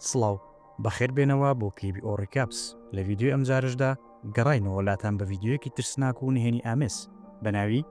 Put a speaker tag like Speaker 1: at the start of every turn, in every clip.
Speaker 1: سڵاو، بەخێر بێنەوە بۆ کلیبی ئۆ ڕیکابس، لە ڤیدیۆی ئەمجارەشدا گەڕاینەوە لاتان بە ڤیدیۆیەکی ترسناک و نهێنی ئامێز بە ناوی،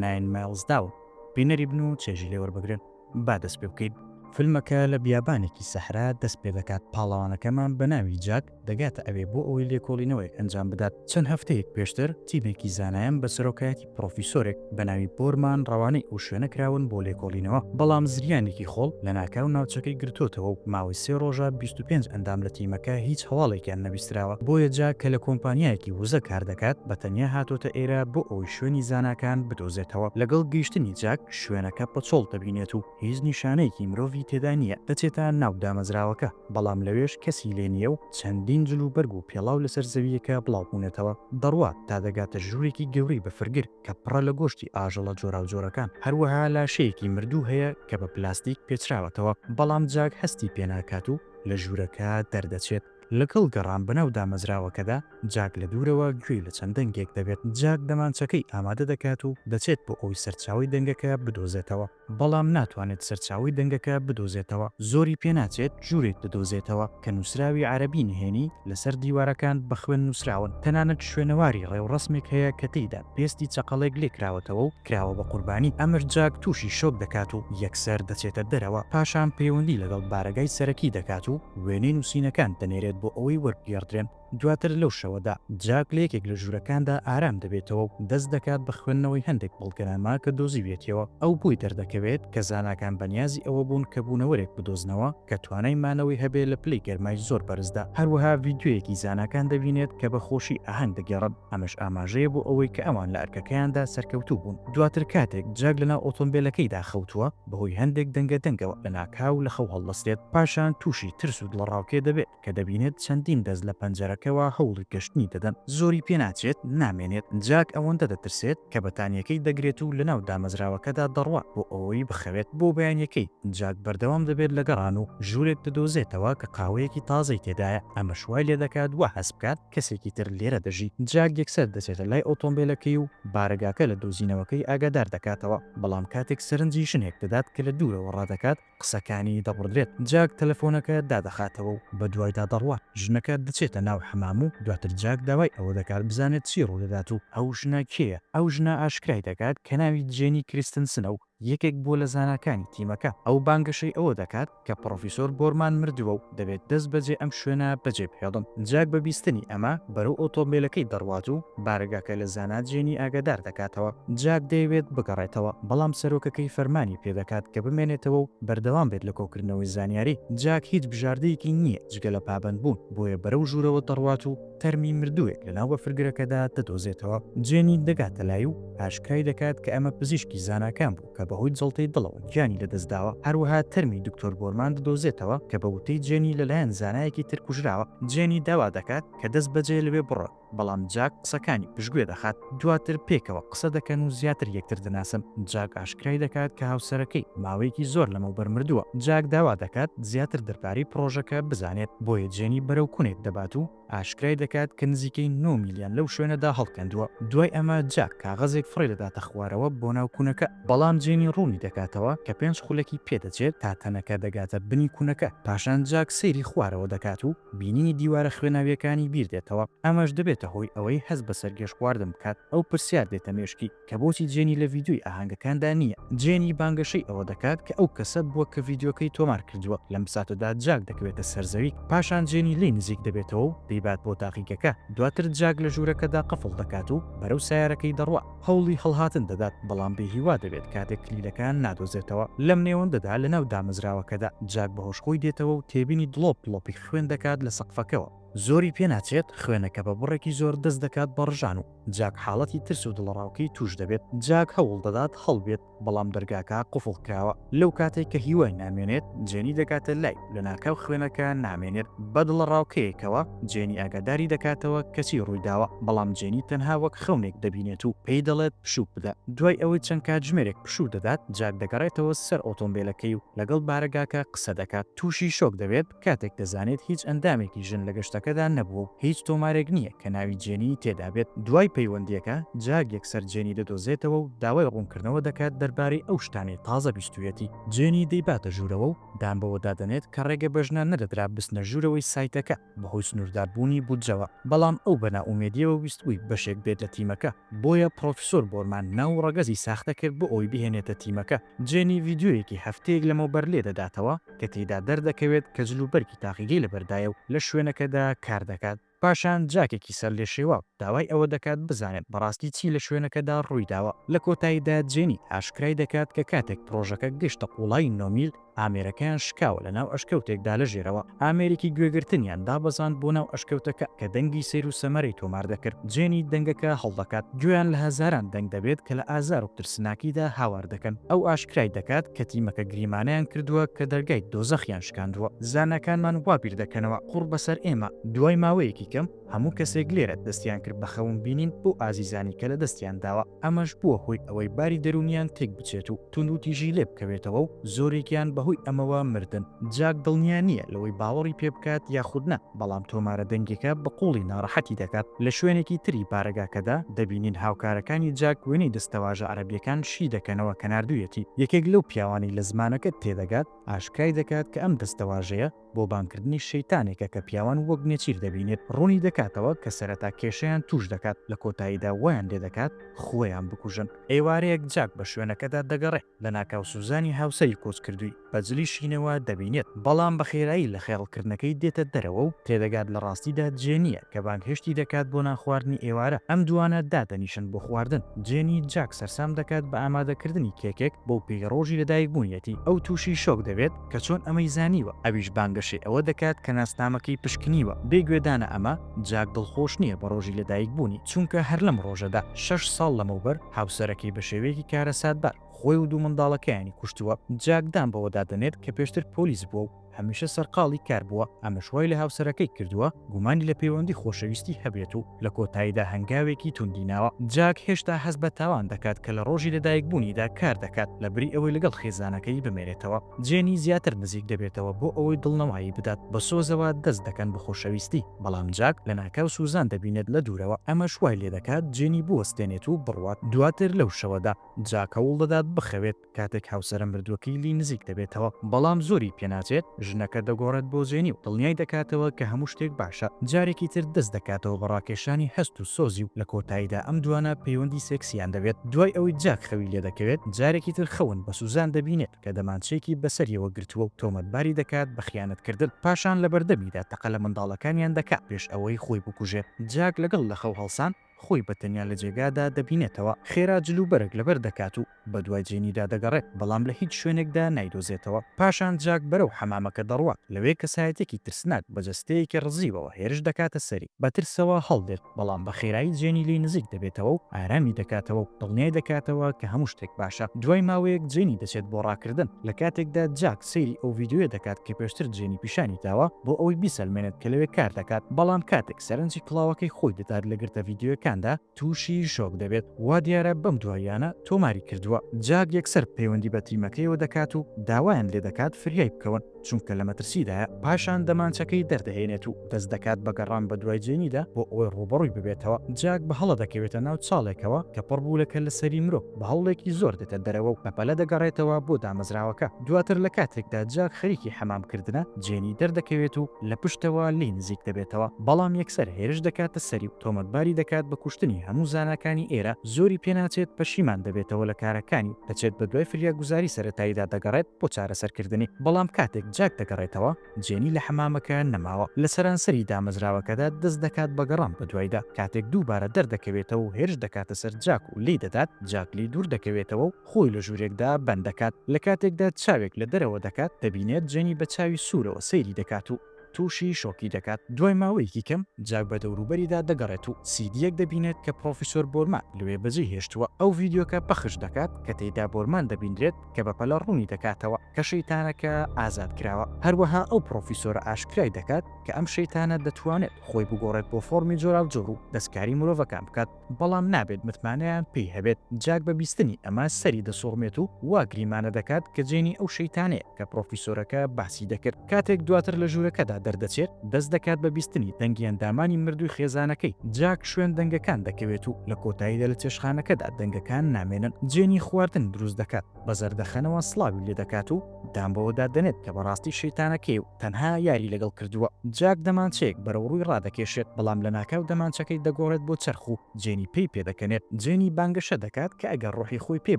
Speaker 1: ناین مایڵز داون، بینەری بن و چێژی لێ وەربگرن. با دەست پێ بکەین. فیلمەکە لە بیابانێکی سەحرا دەست پێ دەکات، پاڵەوانەکەمان بە ناوی جاک، دەگاتە ئەوێ بۆ ئەوەی لێکۆڵینەوەیەک ئەنجام بدات. چەند هەفتەیەک پێشتر تیمێکی زانایان بە سەرۆکایەتی پڕۆفیسۆرێک بە ناوی بۆرمان ڕەوانەی ئەو شوێنە کراون بۆ لێکۆڵینەوە، بەڵام زریانێکی خۆڵ لەناکاو ناوچەکەی گرتۆتەوە و ماوەی سێ ڕۆژە بیست و پێنج ئەندام لە تیمەکە هیچ هەواڵێکیان نەبیستراوە، بۆیە جا کە لە کۆمپانیایەکی وزە کار دەکات بە تەنیا هاتۆتە ئێرە بۆ ئەوەی شوێنی زاناکان بدۆزێتەوە. لەگەڵ گەیشتنی جاک شوێنەکە پەچۆڵ دەبینێت و هیچ نیشانەیەکی مرۆڤی تێدا نییە، دەچێتە ناو دامەزراوەکە، بەڵام لەوێش کەسی لێ نییە و چەندین جل و بەرگ و پێڵاو لەسەر زەوییەکە بڵاو بوونەتەوە، دەڕوات تا دەگاتە ژوورێکی گەورەی بەفرگر کە پڕە لە گۆشتی ئاژەڵە جۆراوجۆرەکان، هەروەها لاشەیەکی مردوو هەیە کە بە پلاستیک پێچراوەتەوە، بەڵام جاک هەستی پێ ناکات و لە ژوورەکە دەردەچێت. لەگەڵ گەڕان بەناو دامەزراوەکەدا، جاک لە دوورەوە گوێی لە چەند دەنگێک دەبێت، جاک دەمانچەکەی ئامادە دەکات و دەچێت بۆ ئەوەی سەرچاوەی دەنگەکە بدۆزێتەوە، بەڵام ناتوانێت سەرچاوەی دەنگەکە بدۆزێتەوە، زۆری پێناچێت ژوورێک بدۆزێتەوە کە نووسراوی عەرەبی نهێنی لەسەر دیوارەکان بە خوێن نووسراون، تەنانەت شوێنەواری ڕێوڕەسمێک هەیە کە تێیدا پێستی چەقەڵێک لێکراوەتەوە و کراوە بە قوربانی، ئەمر جاک تووشی شۆک دەکات و یەکسەر دەچێتە دەرەوە، پاشان پەیوەندی لەگەڵ بارەگای سەرەکی دەکات و وێنەی نووسینەکان دەنێرێت بۆ ئەوەی وەربگێڕدرێن. دواتر لەو شەوەدا، جاک لە یەکێک لە ژوورەکاندا ئارام دەبێتەوە و دەست دەکات بە خوێندنەوەی هەندێک بەڵگەنامە کە دۆزیویەتیەوە. ئەو بۆی دەردەکەوێت کە زاناکان بەنیازی ئەوە بوون کە بوونەوەرێک بدۆزنەوە کە توانای مانەوەی هەبێت لە پلەی گەرمای زۆر بەرزدا. هەروەها ڤیدیۆیەکی زاناکان دەبینێت کە بە خۆشی ئاهەنگ دەگێڕن، ئەمەش ئاماژەیە بۆ ئەوەی کە ئەوان لە ئەرکەکەیاندا سەرکەوتوو بوون. دواتر کاتێک جاک لەناو ئۆتۆمبێلەکەیدا خەوتووە، بەهۆی هەندێک دەنگە دەنگەوە لەناکاو لە خەو هەڵدەستێت، پاشان تووشی ترس و دڵەڕاوکێ دەبێت. کە دەبینێت چەندین دەست لە پەنجەرەکەوە هەوڵی گەشتنی دەدەن، زۆری پێناچێت نامێنێت، جاک ئەوەندە دەترسێت کە بەتانییەکەی دەگرێت و لەناو دامەزراوەکەدا دەڕوات بۆ ئەوەی بخەوێت، بۆ بەیانییەکەی جاک بەردەوام دەبێت لە گەڕان و ژوورێک دەدۆزێتەوە کە قاوەیەکی تازەی تێدایە، ئەمەش وای لێدەکات وا هەست بکات کەسێکی تر لێرە دەژی، جاک یەکسەر دەچێتە لای ئۆتۆمبێلەکەی و بارەگاکە لە دۆزینەوەکەی ئاگادار دەکاتەوە، بەڵام کاتێک سەرنجی ژنێک دەدات کە لە دوورەوە ڕادەکات، قسەکانی دەبڕدرێت، جاک تەلەفۆنەکە دادەخاتەوە و بەدوایدا دەڕوات، ژنەکە دەچێتە ناو حەمام و دواتر جاک داوای ئەوە دەکات بزانێت چی ڕوودەدات و ئەو ژنە کێیە، ئەو ژنە ئاشکرای دەکات کە ناوی جێنی کریستنسنە و یەکێک بووە لە زاناکانی تیمەکە، ئەو بانگەشەی ئەوە دەکات کە پڕۆفیسۆر بۆرمان مردووە و دەبێت دەست بەجێ ئەم شوێنە بەجێ بهێڵن. جاک بە بیستنی ئەمە بەرەو ئۆتۆمبێلەکەی دەڕوات و بارەگاکە لە زانا جێنی ئاگادار دەکاتەوە. جاک دەیەوێت بگەڕێتەوە، بەڵام سەرۆکەکەی فەرمانی پێ دەکات کە بمێنێتەوە و بەردەوام بێت لە کۆکردنەوەی زانیاری. جاک هیچ بژاردەیەکی نییە جگە لە پابەندبوون، بۆیە بەرەو ژوورەوە دەڕوات و تەرمی مردووێک لەناو بەفرگرەکەدا دەدۆزێتەوە. جێنی دەگاتە لای و ئاشکرای دەکات کە ئەمە پزیشکی زاناکان بوو. کە بەهۆی جەڵتەی دڵەوە گیانی لەدەستداوە، هەروەها تەرمی دکتۆر بۆرمان دەدۆزێتەوە کە بە وتەی جێنی لەلایەن زانایەکی تر کوژراوە، جێنی داوا دەکات کە دەستبەجێ لەوێ بڕۆن، بەڵام جاک قسەکانی پشتگوێ دەخات، دواتر پێکەوە قسە دەکەن و زیاتر یەکتر دەناسن، جاک ئاشکرای دەکات کە هاوسەرەکەی ماوەیەکی زۆر لەمەوبەر مردووە، جاک داوا دەکات زیاتر دەربارەی پڕۆژەکە بزانێت، بۆیە جێنی بەرەو کونێک دەبات و. ئاشکرای دەکات کە نزیکەی نۆ میلیان لەو شوێنەدا هەڵکەندووە، دوای ئەمە جاک کاغەزێک فڕێ دەداتە خوارەوە بۆ ناو کونەکە، بەڵام جێنی ڕوونی دەکاتەوە کە پێنج خولەکی پێ دەچێت تا تەنەکە دەگاتە بنی کونەکە، پاشان جاک سەیری خوارەوە دەکات و بینینی دیوارە خوێناوییەکانی بیردێتەوە، ئەمەش دەبێتە هۆی ئەوەی هەست بە سەرگێژخواردن بکات، ئەو پرسیار دێتە مێشکی. کە بۆچی جێنی لە ڤیدیۆی ئاهەنگەکاندا نییە؟ جێنی بانگەشەی ئەوە دەکات کە ئەو کەسە بووە کە ڤیدیۆکەی تۆمار کردووە. لەم ساتەدا جاک دەکەوێتە سەر زەوی، پاشان جێنی لێی نزیک دەبێتەوە و دەیبات بۆ تاقیگەکە. دواتر جاک لە ژوورەکەدا قفڵ دەکات و بەرەو سایارەکەی دەڕوا. هەوڵی هەڵهاتن دەدات، بەڵام بێهیوا دەبێت کاتێک کلیلەکە نادۆزێتەوە. لەم نێوەندەدا لەناو دامەزراوەکەدا، جاک بە هۆش خۆی دێتەوە و تێبینی دڵۆپ دڵۆپی خوێن دەکات لە سەقفەکەوە. زۆری پێناچێت، خوێنەکە بە بڕێکی زۆر دەست دەکات بە ڕژان و جاک حاڵەتی ترس و دڵەڕاوکێی تووش دەبێت، جاک هەوڵ دەدات هەڵبێت، بەڵام دەرگاکە قوفڵ کراوە، لەو کاتەی کە هیوای نامێنێت، جێنی دەگاتە لای و لەناکاو خوێنەکە نامێنێت، بە دڵەڕاوکێیەکەوە جێنی ئاگاداری دەکاتەوە کە چی ڕوویداوە، بەڵام جێنی تەنها وەک خەونێک دەبینێت و پێی دەڵێت پشوو بدە، دوای ئەوەی چەند کاتژمێرێک پشوو دەدات، جاک دەگەڕێتەوە سەر ئۆتۆمبێلەکەی و لەگەڵ بارەگاکە قسە دەکات، تووشی شۆک دەبێت، کاتێک دەزانێت هیچ ئەندامێکی ژن لە گەشتەکەدا نەبووە و هیچ تۆمارێک نییە کە ناوی جێنیی تێدا بێت، دوای پەیوەندییەکە جاک یەکسەر جێنی دەدۆزێتەوە و داوای ڕوونکردنەوە دەکات دەربارەی ئەو شتانەی تازە بیستوویەتی. جێنی دەیباتە ژوورەوە و دان بەوەدا دەنێت کە ڕێگە بە ژنان نەدەدرا بچنە ژوورەوەی سایتەکە بەهۆی سنوورداربوونی بودجەوە، بەڵام ئەو بە نائومێدییەوە ویستبووی بەشێک بێت لە تیمەکە، بۆیە پڕۆفیسۆر بۆرمان ناو و ڕەگەزی ساختە کرد بۆ ئەوەی بهێنێتە تیمەکە. جێنی ڤیدیۆیەکی هەفتەیەک لەمەوبەر لێدەداتەوە کە تێیدا دەردەکەوێت کە جلوبەرگی تاقیگەی لەبەردایە و لە شوێنەکەدا کاردەکات. پاشان جاکێکی سەرلێشێواو داوای ئەوە دەکات بزانێت بەڕاستی چی لە شوێنەکەدا ڕوویداوە. لە کۆتاییدا جێنی ئاشکرای دەکات کە کاتێک پڕۆژەکە گەیشتە قووڵایی نۆ میل، ئامێرەکەیان شکاوە لەناو ئەشکەوتێکدا لە ژێرەوە. ئامێرێکی گوێگرتنیان دابەزاند بۆ ناو ئەشکەوتەکە کە دەنگی سەیر و سەمەرەی تۆمار دەکرد، جێنی دەنگەکە هەڵدەکات، گوێیان لە هەزاران دەنگ دەبێت کە لە ئازار و ترسناکیدا هاوار دەکەن، ئەو ئاشکرای دەکات کە تیمەکە گریمانەیان کردووە کە دەرگای دۆزەخیان شکاندووە، زاناکانمان وا بیر دەکەنەوە قوڕ بەسەر ئێمە. دوای ماوەیەکی کەم هەموو کەسێک لێرە دەستیان کرد بە خەون بینین بۆ ئازیزانی کە لە دەستیان داوە. ئەمەش بووە هۆی ئەوەی باری دەروونییان تێکبچێت و توندوتیژی لێ بکەوێتەوە و زۆرێکیان بەهۆی ئەمەوە مردن. جاک دڵنیا نییە لەوەی باوەڕی پێ بکات یاخود نا، بەڵام تۆمارە دەنگییەکە بە قووڵی ناڕەحەتی دەکات. لە شوێنێکی تری بارەگاکەدا، دەبینین هاوکارەکانی جاک وێنەی دەستەواژە عەرەبییەکان شی دەکەنەوە کە ناردوویەتی. یەکێک لەو پیاوانەی لە زمانەکە تێدەگات، ئاشکرای دەکات کە ئەم دەستەواژەیە، بۆ بانگکردنی شەیتانێکە کە پیاوان وەک نێچیر دەبینێت، ڕوونی دەکاتەوە کە سەرەتا کێشەیان تووش دەکات، لە کۆتاییدا وایان لێ دەکات خۆیان بکوژن. ئێوارەیەک جاک بە شوێنەکەدا دەگەڕێت، لەناکاو سوزانی هاوسەری کۆچکردووی بە جلی شینەوە دەبینێت، بەڵام بە خێرایی لە خەیاڵکردنەکەی دێتە دەرەوە و تێدەگات لە ڕاستیدا جێنییە کە بانگهێشتی دەکات بۆ نانخواردنی ئێوارە، ئەم دووانە دادەنیشن بۆ خواردن. جێنی جاک سەرسام دەکات بە ئامادەکردنی کێکێک، بەو پێی ڕۆژی لەدایکبوونیەتی، ئەو تووشی شۆک دەبێت، کە چۆن ئەمەی زانیوە، ئەویش بانگەشەی ئەوە دەکات کە ناسنامەکەی پشکنیوە، بێ گوێدانە ئەمە، جاک دڵخۆش نییە بە ڕۆژی لەدایکبوونی، چونکە هەر لەم ڕۆژەدا، شەش ساڵ لەمەوبەر، هاوسەرەکەی بە شێوەیەکی کارەساتبار، خۆی و دوو منداڵەکەیانی کوشتووە. جاک دان بەوەدا دەنێت کە پێشتر پۆلیس بووە و هەمیشە سەرقاڵی کار بووە، ئەمەش وای لە هاوسەرەکەی کردووە، گومانی لە پەیوەندی خۆشەویستی هەبێت و لە کۆتاییدا هەنگاوێکی توندی ناوە. جاک هێشتا هەست بە تاوان دەکات کە لە ڕۆژی لەدایکبوونیدا کار دەکات، لەبری ئەوەی لەگەڵ خێزانەکەی بمێنێتەوە، جێنی زیاتر نزیک دەبێتەوە بۆ ئەوەی دڵنەوایی بدات، بە سۆزەوە دەست دەکەن بە خۆشەویستی، بەڵام جاک لەناکاو سوزان دەبینێت لە دوورەوە، ئەمەش وای لێدەکات جێنی بوەستێنێت و بڕوات. دواتر لەو شەوەدا، جاک هەوڵ دەدات بخەوێت، کاتێک هاوسەرە مردووەکەی لێی نزیک دەبێتەوە بەڵام زۆری پێناچێت، ژنەکە دەگۆڕێت بۆ جێنی و دڵنیای دەکاتەوە کە هەموو شتێک باشە، جارێکی تر دەست دەکاتەوە بە ڕاکێشانی هەست و سۆزی و لە کۆتاییدا ئەم دوانە پەیوەندی سێکسییان دەبێت، دوای ئەوەی جاک خەوی لێدەکەوێت جارێکی تر خەون بە سوزان دەبینێت کە دەمانچەیەکی بەسەریەوە گرتووە و تۆمەتباری دەکات بە خیانەتکردن، پاشان لەبەردەمیدا تەقە لە منداڵەکانیان دەکات پێش ئەوەی خۆی بکوژێت، جاک لەگەڵ لەخەو هەڵسان. خۆی بە تەنیا لە جێگادا دەبینێتەوە، خێرا جل و بەرگ لەبەر دەکات و بە دوای جێنیدا دەگەڕێت، بەڵام لە هیچ شوێنێکدا نایدۆزێتەوە. پاشان جاک بەرەو حەمامەکە دەڕوات، لەوێ کەسایەتیەکی ترسناک بە جەستەیەکی ڕزیوەوە هێرش دەکاتە سەری، بە ترسەوە هەڵدێت، بەڵام بە خێرایی جێنی لێی نزیک دەبێتەوە و ئارامی دەکاتەوە و دڵنیای دەکاتەوە کە هەموو شتێک باشە. دوای ماوەیەک جێنی دەچێت بۆ ڕاکردن، لە کاتێکدا جاک. سەیری ئەو ڤیدیۆیە دەکات کە پێشتر جێنی پیشانی داوە بۆ ئەوەی بیسەلمێنێت کە لەوێ کار دەکات، بەڵام کاتێک سەرنجی کڵاوەکەی خۆی دەدات لە گرتە ڤیدیۆیەکاندا تووشی شۆک دەبێت، وا دیارە بەم دواییانە تۆماری کردووە. جاک یەکسەر پەیوەندی بە تیمەکەیەوە دەکات و داوایان لێ دەکات فریای بکەون چونکە لە مەترسیدایە، پاشان دەمانچەکەی دەردەهێنێت و دەست دەکات بە گەڕان بە دوای جێنیدا بۆ ئەوەی ڕووبەڕووی ببێتەوە، جاک بە هەڵە دەکەوێتە ناو چاڵێکەوە کە پڕ بوو لە کەللەسەری مرۆ. بە هەوڵێکی زۆر دێتە دەرەوە و بەپەلە دەگەڕێتەوە بۆ دامەزراوەکە، دواتر لە کاتێکدا جاک خەریکی حەمام کردنە، جێنی دەردەکەوێت و لە پشتەوە لێی نزیک دەبێتەوە، بەڵام یەکسەر هێرش دەکاتە سەری و تۆمەتباری دەکات بە کوشتنی، هەموو زاناکانی ئێرە زۆری پێناچێت، پەشیمان دەبێتەوە لە کارەکانی و دەچێت بەدوای فریاگوزاری سەرەتاییدا دەگەڕێت بۆ چارەسەرکردنی، بەڵام کاتێک جاک دەگەڕێتەوە. جێنی لە حەمامەکە نەماوە، لە سەرانسەری دامەزراوەکەدا دەست دەکات بە گەڕان بەدوایدا، کاتێک دووبارە دەردەکەوێتەوە و هێرش دەکاتە سەر جاک و لێی دەدات، جاک لێی دوور دەکەوێتەوە و خۆی لە ژوورێکدا بەند دەکات، لە کاتێکدا چاوێک لە دەرەوە دەکات، دەبینێت جێنی بە چاوی سوورەوە سەیری دەکات و تووشی شۆکی دەکات، دوای ماوەیەکی کەم جاک بە دەوروبەریدا دەگەڕێت و سیدییەک دەبینێت کە پڕۆفیسۆر بۆرمان لەوێ بەجێی هێشتووە، ئەو ڤیدیۆکە پەخش دەکات کە تێیدا بۆرمان دەبینرێت کە بەپەلە ڕوونی دەکاتەوە. کە شەیتانەکە ئازاد کراوە. هەروەها ئەو پڕۆفیسۆرە ئاشکرای دەکات کە ئەم شەیتانە دەتوانێت خۆی بگۆڕێت بۆ فۆڕمی جۆراوجۆر و دەستکاری مرۆڤەکان بکات، بەڵام نابێت متمانەیان پێی هەبێت. جاک بە بیستنی ئەمە سەری دەسوڕمێت و وا گریمانە دەکات کە جێنی ئەو شەیتانەیە کە پڕۆفیسۆرەکە باسی دەکرد. کاتێک دواتر لە ژوورەکەدا دەردەچێت، دەست دەکات بە بیستنی دەنگی ئەندامانی مردووی خێزانەکەی. جاک شوێن دەنگەکان دەکەوێت و لە کۆتاییدا لە چێشتخانەکەدا دەنگەکان نامێنن. جێنی خواردن دروست دەکات. بە زەردەخەنەوە سڵاوی لێ دەکات و دان بەوە دا دەنێت کە بەڕاستی شەیتانەکەی و تەنها یاری لەگەڵ کردووە. جاک دەمانچەیەک بەرەو ڕووی ڕادەکێشێت، بەڵام لەناکاو دەمانچەکەی دەگۆڕێت بۆ چەرخ و جێنی پێی پێ دەکەنێت. جێنی بانگەشە دەکات کە ئەگەر ڕۆحی خۆی پێ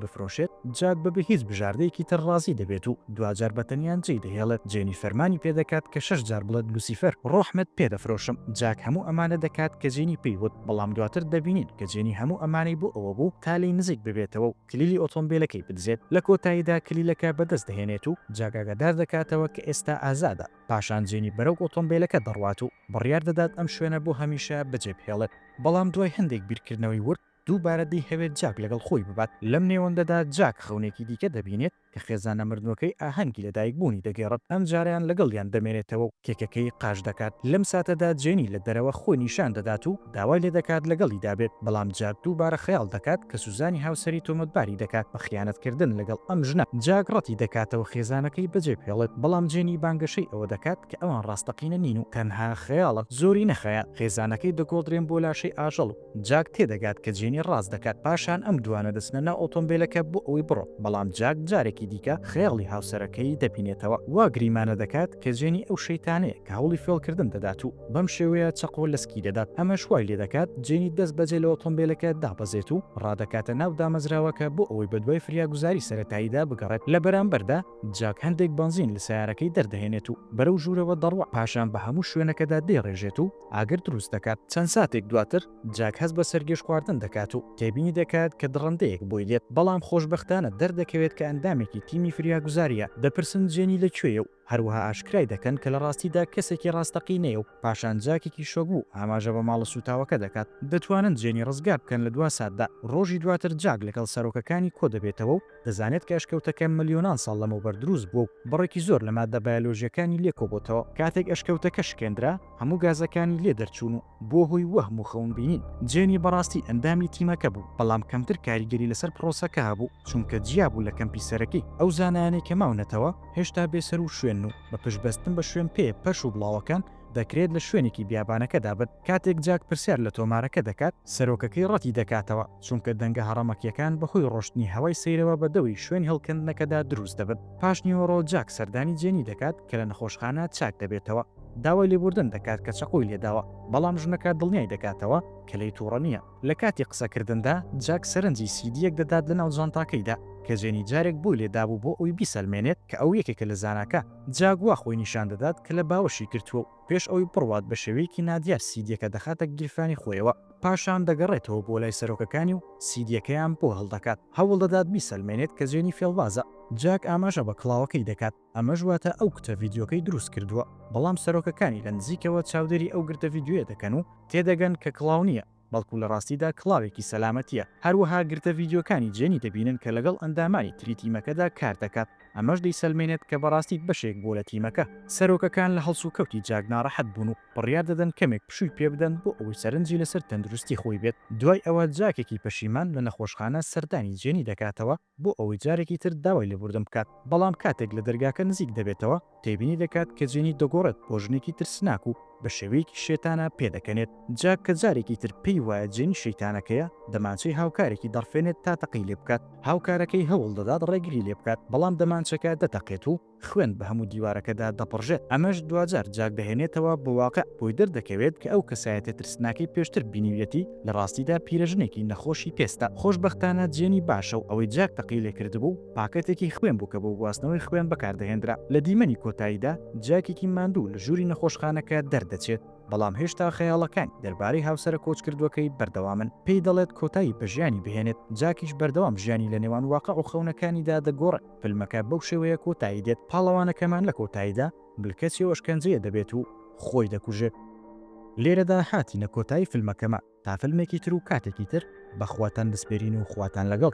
Speaker 1: بفرۆشێت، جاک بەبێ هیچ بژاردەیەکی تر ڕازی دەبێت و دواجار بە تەنیا جێی دەهێڵێت. جێنی فەرمانی پێ دەکات کە شەش جار بڵێت لوسیفەر، ڕۆحمت پێ دەفرۆشم. جاک هەموو ئەمانە دەکات کە جێنی پێی وت، بەڵام دواتر دەبینین کە جێنی هەموو ئەمانەی بۆ ئەوە بوو تا لێی نزیک ببێتەوە و کلیلی ئۆتۆمبێلەکەی بدزێت، لە کۆتاییدا کلیلەکە بەدەست دەهێنێت و جاک ئاگادار دەکاتەوە کە ئێستا ئازادە، پاشان جێنی بەرەو ئۆتۆمبێلەکە دەڕوات و بڕیار دەدات ئەم شوێنە بۆ هەمیشە بەجێبهێڵێت، بەڵام دوای هەندێک بیرکردنەوەی ورد، دووبارە دەیهەوێت جاک لەگەڵ خۆی ببات، لەم نێوەندەدا جاک خەونێکی دیکە دەبینێت، کە خێزانە مردووەکەی ئاهەنگی لەدایکبوونی دەگێڕت، ئەم جارەیان لەگەڵیان دەمێنێتەوە و کێکەکەی قاش دەکات، لەم ساتەدا جێنی لە دەرەوە خۆی نیشان دەدات و داوای لێدەکات لەگەڵیدا بێت، بەڵام جاک دووبارە خەیاڵ دەکات کە سوزانی هاوسەری تۆمەتباری دەکات بە خیانەتکردن لەگەڵ ئەم ژنە، جاک ڕەتی دەکاتەوە خێزانەکەی بەجێبهێڵێت، بەڵام جێنی بانگەشەی ئەوە دەکات کە ئەوان ڕاستەقینە نین و تەنها خەیاڵن، زۆری نەخایاند خێزانەکەی دەگۆڕدرێن بۆ لاشەی ئاژەڵ و. جاک تێدەگات کە جێنی ڕاست دەکات، پاشان ئەم دووانە دەچنە ناو ئۆتۆمبێلەکە بۆ ئەوەی بڕۆن، بەڵام جاک جارێکی دیکە خەیاڵی هاوسەرەکەی دەبینێتەوە، وا گریمانە دەکات کە جێنی ئەو شەیتانەیە کە هەوڵی فێڵکردن دەدات و بەم شێوەیە چەقۆ لەسکی دەدات، ئەمەش وای لێدەکات جێنی دەستبەجێ لە ئۆتۆمبێلەکە دابەزێت و ڕادەکاتە ناو دامەزراوەکە بۆ ئەوەی بەدوای فریاگوزاری سەرەتاییدا بگەڕێت، لە بەرامبەردا جاک هەندێک بەنزین لە سەیارەکەی دەردەهێنێت و بەرەو ژوورەوە دەڕوا، پاشان بە هەموو شوێنەکەدا دەیڕێژێت و ئاگر دروست دەکات. چەند ساتێک دواتر جاک هەست بە سەرگێژخواردن دەکات و تێبینی دەکات کە دڕندەیەک بۆی دێت، بەڵام خۆشبەختانە دەردەکەوێت کە ئەندامێکی تیمی فریاگوزارییە، دەپرسن جێنی لە کوێیە و هەروەها ئاشکرای دەکەن کە لە ڕاستیدا کەسێکی ڕاستەقینەیە و پاشان جاکێکی شۆکبوو ئاماژە بە ماڵە سووتاوەکە دەکات. دەتوانن جێنی ڕزگار بکەن لە دوا ساتدا. ڕۆژی دواتر جاک لەگەڵ سەرۆکەکانی کۆدەبێتەوە و. دەزانێت کە ئەشکەوتەکە ملیۆنان ساڵ لەمەوبەر دروست بووە و بڕێکی زۆر لە ماددە بایۆلۆژییەکانی لێ کۆبۆتەوە، کاتێک ئەشکەوتەکە شکێندرا، هەموو گازەکانی لێ دەرچوون و بووە هۆی وەهم و خەونبینین. جێنی بەڕاستی ئەندامی تیمەکە بوو، بەڵام کەمتر کاریگەری لەسەر پڕۆسەکە هەبوو، چونکە جیا بوو لە کەمپی سەرەکی. ئەو زانایانەی کە ماونەتەوە، هێشتا بێسەروشوێنن و بە پشتبەستن بە شوێنپێیە پەرش و بڵاوەکان، دەکرێت لە شوێنێکی بیابانەکەدا بن. کاتێک جاک پرسیار لە تۆمارەکە دەکات، سەرۆکەکەی ڕەتی دەکاتەوە، چونکە دەنگە هەڕەمەکییەکان بەهۆی ڕۆشتنی هەوای سەیرەوە بە دەوری شوێن هێڵکەندنەکەدا دروست دەبن. پاشنیوەڕۆ جاک سەردانی جێنی دەکات کە لە نەخۆشخانە چاک دەبێتەوە، داوای لێبوردن دەکات کە چەقۆی لێداوە، بەڵام ژنەکە دڵنیای دەکاتەوە کە لێی توڕە نییە. لە کاتی قسەکردندا، جاک سەرنجی سیدییەک دەدات لەناو جانتاکەیدا، کە جێنی جارێک بۆی لێدابوو بۆ ئەوەی بیسەلمێنێت کە ئەو یەکێکە لە زاناکان. جاک وا خۆی نیشان دەدات کە لە باوەشی گرتووە و پێش ئەوەی بڕوات بە شێوەیەکی نادیار سیدییەکە دەخاتە گیرفانی خۆیەوە، پاشان دەگەڕێتەوە بۆ لای سەرۆکەکانی و سیدییەکەیان بۆ هەڵدەکات، هەوڵدەدات بیسەلمێنێت کە جێنی فێڵبازە. جاک ئاماژە بە کڵاوەکەی دەکات. ئەمەش واتە ئەو گرتە ڤیدیۆکەی دروست کردووە، بەڵام سەرۆکەکانی لە نزیکەوە چاودێری ئەو گرتە ڤیدیۆیە دەکەن و تێدەگەن کە کڵاو نییە، بەڵکو لە ڕاستیدا کڵاوێکی سەلامەتییە، هەروەها گرتە ڤیدیۆکانی جێنی دەبینن کە لەگەڵ ئەندامانی تری تیمەکەدا کار دەکات، ئەمەش دەیسەلمێنێت کە بەڕاستی بەشێک بووە لە تیمەکە. سەرۆکەکان لە هەڵسوکەوتی جاک ناڕەحەت بوون و بڕیار دەدەن کەمێک پشووی پێ بدەن بۆ ئەوەی سەرنجی لەسەر تەندروستی خۆی بێت، دوای ئەوە جاکێکی پەشیمان لە نەخۆشخانە سەردانی جێنی دەکاتەوە، بۆ ئەوەی جارێکی تر داوای لێبوردن بکات، بەڵام کاتێک لە دەرگاکە نزیک دەبێتەوە، تێبینی دەکات کە جێنی دەگۆڕێت بۆ ژنێکی ترسناک و بە شێوەیەکی شێتانە پێدەکەنێت. جاک کە جارێکی تر پێی وایە جێنی شیتانەکەیە، دەمانچەی هاوکارێکی دەڕفێنێت تا تەقەی لێبکات، هاوکارەکەی هەوڵدەدات ڕێگری لێبکات، بەڵام دەمانچەکە دەتەقێت و. خوێن بە هەموو دیوارەکەدا دەپڕژێت، ئەمەش دواجار جاک دەهێنێتەوە بۆ واقع، بۆی دەردەکەوێت کە ئەو کەسایەتیە ترسناکەی پێشتر بینیویەتی لە ڕاستیدا پیرەژنێکی نەخۆشی پێستە. خۆشبەختانە جێنی باشە و ئەوەی جاک تەقەی لێکردبوو پاکەتێکی خوێن بوو کە بۆ گواستنەوەی خوێن بەکاردەهێندرا. لە دیمەنی کۆتاییدا جاکێکی ماندوو لە ژووری نەخۆشخانەکە دەردەچێت، بەڵام هێشتا خەیاڵەکانی دەربارەی هاوسەرە کۆچکردووەکەی بەردەوامن، پێی دەڵێت کۆتایی بە ژیانی بهێنێت، جاکیش بەردەوام ژیانی لە نێوان واقع و خەونەکانیدا دەگۆڕێت. فیلمەکە بەو شێوەیە کۆتایی دێت پاڵەوانەکەمان لە کۆتاییدا بلکەچی و ئەشکەنجەیە دەبێت و خۆی دەکوژێت لێرەدا هاتینە کۆتایی فیلمەکەمان تا فیلمێکی تر و کاتێکی تر بەخواتان دەسپێرین و خواتان لەگەڵ